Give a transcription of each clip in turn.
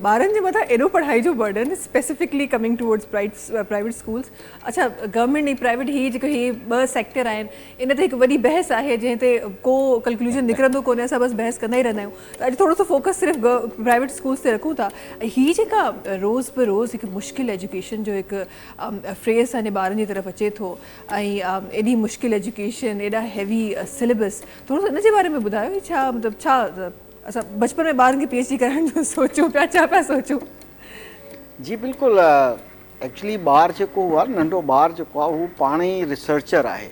ٻارن جي مٿان ايڏو پڙهائي جو burden specifically coming towards private schools اڇا گورنمينٽ ۽ پرائيويٽ هي جيڪو هي ٻه سيڪٽر آهن ان تي هڪ وڏي بحث آهي جنهن تي ڪو ڪلڪلوجن نڪرندو ڪونهي اسان بس بحث ڪندا ئي رهندا آهيون ته اڄ ٿورو سو فوڪس صرف پرائيويٽ اسڪولز تي رکون ٿا هي جيڪا روز به روز هڪ مشڪل ايجوڪيشن جو هڪ فريز اسان جي ٻارن جي طرف اچي ٿو ۽ ايڏي مشڪل ايجوڪيشن ايڏا هيوي سليبس ٿورو سو ان جي باري ۾ ٻڌايو ڇا مطلب ڇا اسان بچپن ۾ ٻارن کي پي ايڇ ڊي ڪرائڻ جو سوچون پيا ڇا پيا سوچون؟ جي بلڪل ايڪچولي ٻار جيڪو هو آهي ننڍو ٻار جيڪو آهي هو پاڻ ئي ريسرچر آهي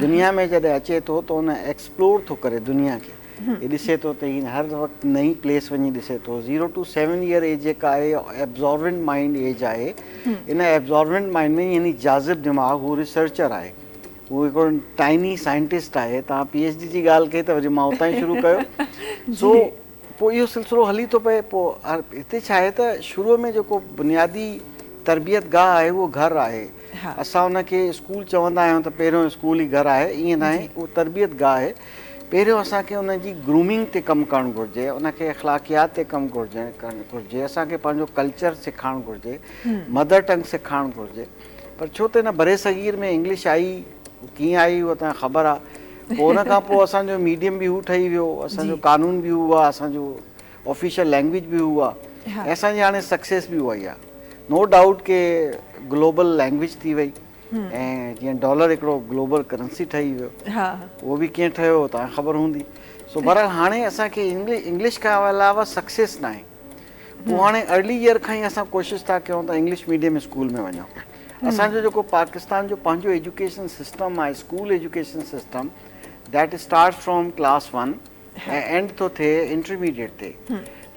دنيا ۾ جڏهن اچي ٿو ته ان ايڪسپلور ٿو ڪري دنيا کي هي ڏسي ٿو ته هي هر وقت نئين پليس وڃي ڏسي ٿو zero to seven year age جيڪا آهي ابزارونٽ مائنڊ ايج آهي ان ابزارونٽ مائنڊ ۾ يعني جاذب دماغ هو ريسرچر آهي هو هڪڙو ٽائني سائنٽسٽ آهي، توهان پي ايڇ ڊي جي ڳالهه ڪئي ته وري مان اتان ئي شروع ڪيو سو پوء اهو سلسلو هلي ٿو پئي پوء هتي ڇا آهي ته شروع ۾ جيڪو بنيادي تربيت گاهه آهي اهو گهر آهي اسان ان کي اسڪول چوندا آهيون ته پهريون اسڪول ئي گهر آهي ائين ناهي اهو تربيت گاهه آهي پهريون اسان کي ان جي گرومنگ تي ڪم ڪرڻ گهرجي ان کي اخلاقيات تي ڪم گهرجي اسان کي پنهنجو ڪلچر سکارڻ گهرجي مدر ٽنگ سکارڻ گهرجي پر ڇو ته هن برصغير ۾ انگلش آئي ڪيئن آئي اهو توهان کي خبر آهي پوء ان کان پوء اسان جو ميڊيم به هو ٺهي ويو اسان جو قانون به هو آهي اسان جو آفيشل لينگويج به هو آهي ۽ اسان جي هاڻي سڪسيس به اها ئي آهي نو ڊائوٽ ڪي گلوبل لينگويج ٿي وئي ۽ جيئن ڊالر هڪڙو گلوبل ڪرنسي ٺهي ويو اهو به ڪيئن ٺهيو توهان کي خبر هوندي سو بهرحال هاڻي اسان کي انگلش کان علاوه سڪسيس ناهي پوء هاڻي ارلي ايئر کان ئي اسان ڪوشش ٿا ڪيون ته انگلش ميڊيم اسڪول ۾ وڃون اسان جو جيڪو پاڪستان جو پنهنجو ايجوڪيشن سسٽم آهي school education system that start from class one ۽ end ٿو ٿئي انٽرميڊيٽ تي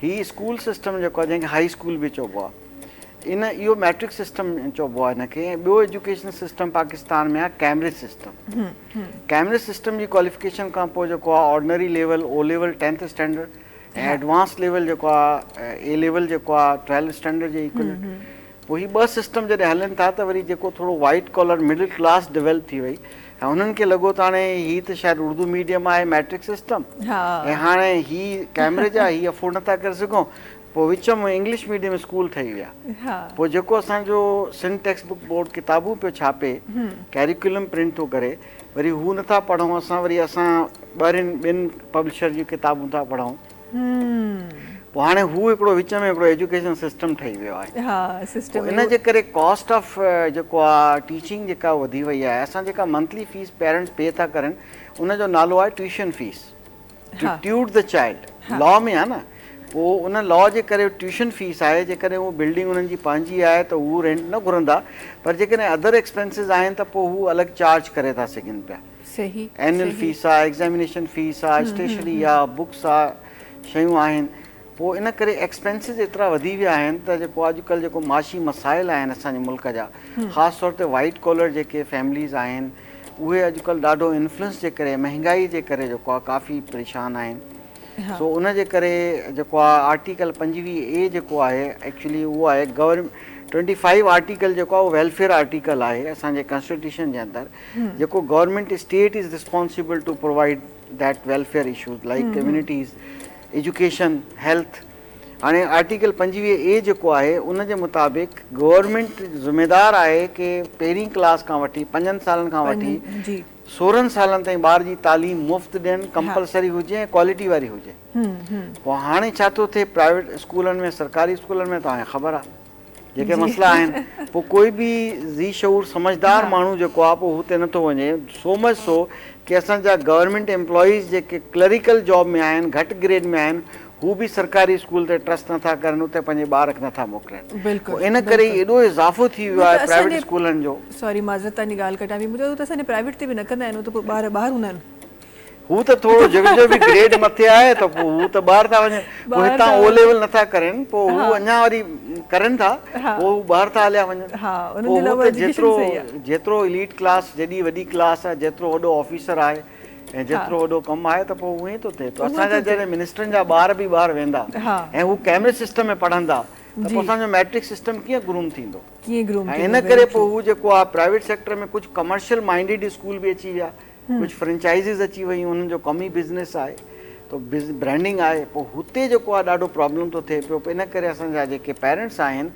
هي اسڪول سسٽم جيڪو آهي جنهن کي هائي اسڪول به چئبو آهي ان اهو ميٽرڪ سسٽم چئبو آهي هن کي ۽ ٻيو ايجوڪيشن سسٽم پاڪستان ۾ آهي ڪيمبرج سسٽم ڪيمبرج سسٽم جي ڪواليفڪيشن کان پوء جيڪو آهي ordinary level O level tenth standard ۽ advance level جيڪو آ اي ليول جيڪو آ ٽرائل اسٽينڊرڊ جي ايڪوئلنٽ پوء هي ٻه سسٽم جڏهن هلن ٿا ته وري جيڪو ٿورو white collar middle class develop ٿي وئي ۽ انهن کي لڳو ته هاڻي هي ته شايد اردو ميڊيم آهي ميٽرڪ سسٽم ۽ هاڻي هي ڪيمبرج آ هي افورڊ نٿا ڪري سگهون پوء وچ ۾ انگلش ميڊيم اسڪول ٺهي ويا پوء جيڪو اسان جو سنڌ ٽيڪسٽ بڪ بورڊ ڪتابون پيو ڇاپي ڪيريڪولم پرنٽ ٿو ڪري وري هو نٿا پڙهون اسان وري اسان ٻاهرين ٻين پبلشر جون ڪتابون ٿا پڙهون پوء هاڻي هو هڪڙو وچ ۾ هڪڙو ايجوڪيشن سسٽم ٺهي ويو آهي ها سسٽم ان جي ڪري ڪاسٽ آف جيڪو آ ٽيچنگ جيڪا وڌي وئي آهي اسان جيڪا منٿلي فيس پيرنٽس پي ٿا ڪرين ان جو نالو آهي tuition fee to ٽيوٽ the child لا ۾ آهي نه پوء ان لا جي ڪري ٽيوشن فيس آهي جيڪڏهن هو بلڊنگ انهن جي پنهنجي آهي ته هو رينٽ نه گهرندا پر جيڪڏهن ادر ايڪسپينسز آهن ته پوء هو الڳ چارج ڪري ٿا سگهن پيا اينول فيس آهي ايڪزامينيشن فيس آهي اسٽيشنري آهي بڪس آهي شيون آهن پوء ان ڪري ايڪسپينسز ايترا وڌي ويا آهن ته جيڪو اڄڪلهه جيڪو معاشي مسائل آهن اسان جي ملڪ جا خاص طور تي وائيٽ ڪالر جيڪي فيمليز آهن اهي اڄڪلهه ڏاڍو انفلوئنس جي ڪري مهنگائي جي ڪري جيڪو آهي ڪافي پريشان آهن سو ان جي ڪري جيڪو آهي آرٽيڪل پنجويهه اي جيڪو آهي ايڪچولي اهو آهي گورن ٽوئنٽي فائيو آرٽيڪل جيڪو آهي اهو ويلفيئر آرٽيڪل آهي اسانجي ڪانسٽيٽيوشن جي اندر جيڪو government state is responsible to provide that welfare issues like communities education health هاڻي آرٽيڪل پنجويهه اي جيڪو آهي ان جي مطابق گورنمينٽ ذميدار آهي ڪي پهرين ڪلاس کان وٺي پنجن سالن کان وٺي سورهن سالن تائين ٻار جي تعليم مفت ڏين ڪمپلسري هجي ۽ ڪوالٽي واري هجي پوء هاڻي ڇا ٿو ٿئي پرائيويٽ اسڪولن ۾ سرڪاري اسڪولن ۾ توهان کي خبر آهي جيڪي مسئلا آهن پوء ڪوئي به ذي شعور سمجهدار ماڻهو جيڪو آهي پوء هو اتي نٿو وڃي سو مچ سو ڪي اسان جا گورنمينٽ امپلائيز جيڪي ڪلريڪل جاب ۾ آهن گهٽ گريڊ ۾ آهن هو به سرڪاري اسڪول تي ٽرسٽ نٿا ڪرن اتي پنهنجي ٻارک نٿا موڪلين پوء ان ڪري ئي ايڏو اضافو ٿي ويو آهي پرائيويٽ اسڪولن جو. سوري معذرت تهانجي ڳالهه ڪٽيان پئي مون چيو ته اسان جي پرائيويٽ تي به نه ڪندا آهن هو ته پوء ٻار ٻاهر هوندا آهن. هو ته ٿورو جيڪر جو به گريڊ مٿي آهي ته پوء هو ته ٻاهر ٿا وڃن پوء هتان او ليول نٿا ڪرين پوء هو اڃا وري ڪرين ٿا پوء هو ٻاهر ٿا هليا وڃن پوء هو ته جيترو جيترو اليٽ ڪلاس جيڏي وڏي ڪلاس آهي جيترو وڏو آفيسر آهي ۽ جيترو وڏو ڪم آهي ته پوء اهو ئي ٿو ٿئي اسان جا جڏهن منسٽرن جا ٻار به ٻاهر ويندا ۽ هو ڪيمري سسٽم ۾ پڙهندا ته پوء اسان جو ميٽرڪ سسٽم ڪيئن گروم ٿيندو ڪيئن گروم ٿيندو ۽ ان ڪري پوء هو جيڪو آهي پرائيويٽ سيڪٽر ۾ ڪجهه ڪمرشل مائنڊيڊ اسڪول به اچي ويا ڪجهه فرنچائزز اچي ويون انهن جو ڪم ئي بزنس آهي تو برانڊنگ آهي پوء هتي جيڪو آهي ڏاڍو پرابلم ٿو ٿئي پيو ان ڪري اسان جا جيڪي پيرنٽس آهن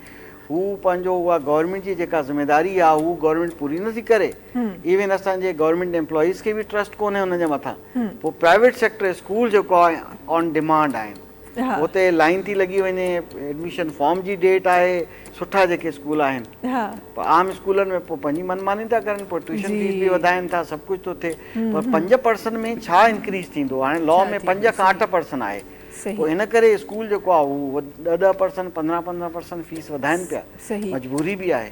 هو پنهنجو اها گورنمينٽ جي جيڪا ذميداري آهي هو گورنمينٽ پوري نه ٿي ڪري ايون اسان جي گورنمينٽ امپلائيز کي به ٽرسٽ ڪونهي ان جي مٿان پوء پرائيويٽ سيڪٽر اسڪول جيڪو آهي آن ڊيمانڊ آهن اتي لائين ٿي لڳي وڃي ايڊميشن فارم جي ڊيٽ آهي سٺا جيڪي اسڪول آهن پر عام اسڪولن ۾ پوء پنهنجي من ماني ٿا ڪرن پوء ٽيوشن فيس به وڌائن ٿا سڀ ڪجهه ٿو ٿئي پر پنج پرسن ۾ ڇا انڪريز ٿيندو هاڻي لا ۾ پنج کان اٺ پرسن آهي پوء ان ڪري اسڪول جيڪو آهي هو ڏهه ڏهه پرسن پندرهن پندرهن پرسن فيس وڌائن پيا مجبوري به آهي